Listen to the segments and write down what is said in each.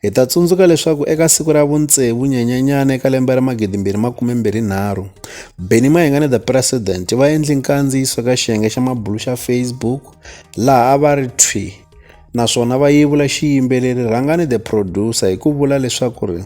Hi ta tsundzuka leswaku eka siku ra vutsevu nyenyanyana eka lembe ra 2023, Benny Mayengane the President va endli nkandziyiso ka xiyenge xa mabulu xa Facebook laha a va ri thwi naswona va yevula xiyimbeleri Rhangani the Producer hi ku vula leswaku ri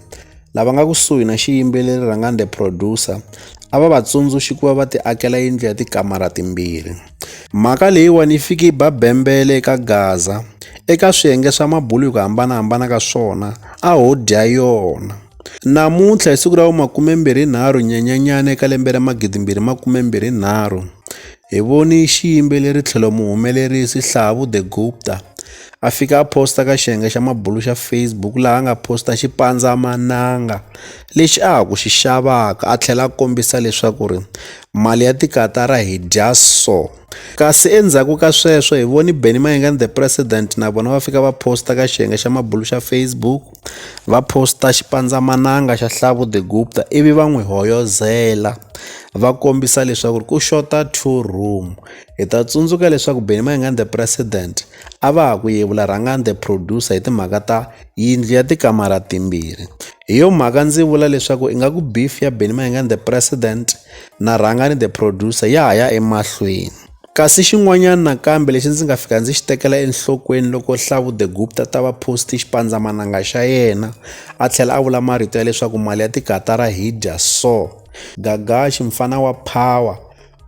lava nga kusuhi na xiyimbeleri Rhangani the Producer a va va tsundzuxi ku va va ti akela yindlu ya tikamara timbirhi. Mhaka leyiwani yi fike yi ba bembele eka Gaza eka swiyenge swa mabulu hi ku hambanahambana ka swona a ho dya yona namuntlha hi siku ra vu-23 Nyenyenyana eka lembe ra 2023 hi voni xiyimbeleri tlhelo muhumelerisi Hlavu The Gupta a fika a posta ka xiyenge xa mabulu xa Facebook laha a nga posta xipandzamananga lexi a ha ku xi xavaka a tlhela a kombisa leswaku ri mali ya tikatara hi dya so kasi endzhaku ka sweswo hi voni benny mayengani the president na vona va fika va posta ka xiyenge xa mabulu xa facebook va posta xipandzamananga xa hlavu the gupta ivi va n'wi hoyozela va kombisa leswaku ku xota two room hi ta tsundzuka leswaku benny mayengani the president a va ha ku yevula rhangani the producer hi timhaka ta yindlu ya tikamara timbirhi hi yo mhaka ndzi vula leswaku ingaku beef ya Benny Mayengani the president na Rhangani the producer ya ha ya emahlweni kasi xin'wanyana nakambe lexi ndzi nga fika ndzi xi tekela enhlokweni loko hlavu the gupta ta va post xipandzamananga xa yena a tlhela a vula marito ya leswaku mali ya tikatara hi dya so gagaxi mfana wa power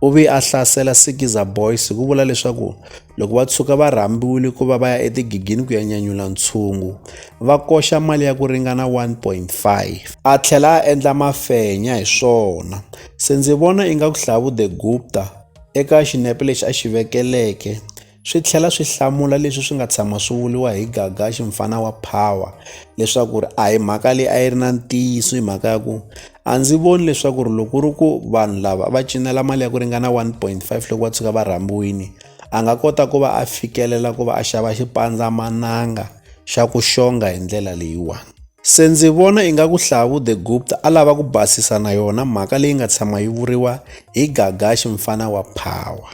u ve a hlasela sikiza boys hi ku vula leswaku Loko va tshuka va rhambiwile ku va va ya etigigini ku ya nyanyula ntshungu, va koxa mali ya ku ringana 1.5. A tlhela a endla mafenya hi swona. Se ndzi vona inga ku hlavu The Gupta eka xinepe lexi a xi vekeleke swi tlhela swi hlamula leswi swi nga tshama swi vuriwa hi Gagashi mfana wa Power leswaku a hi mhaka leyi a yi ri na ntiyiso hi mhaka ya ku a ndzi voni leswaku ri loko ku ri ku vanhu lava va cinela mali ya ku ringana one point five loko va tshuka va rhambiwile a nga kota ku va a fikelela ku va a xava xipandzamananga xa ku xonga hi ndlela leyiwani se ndzi vona ingaku hlavu the gupta a lava ku basisa na yona mhaka leyi nga tshama yi vuriwa hi gagaxi mfana wa power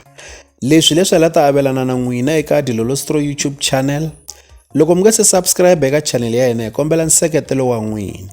leswi leswi la ta avelana na n'wina eka dilolostro youtube channel loko mi nga se subscribe eka channel ya hina hi kombela nseketelo wa n'wina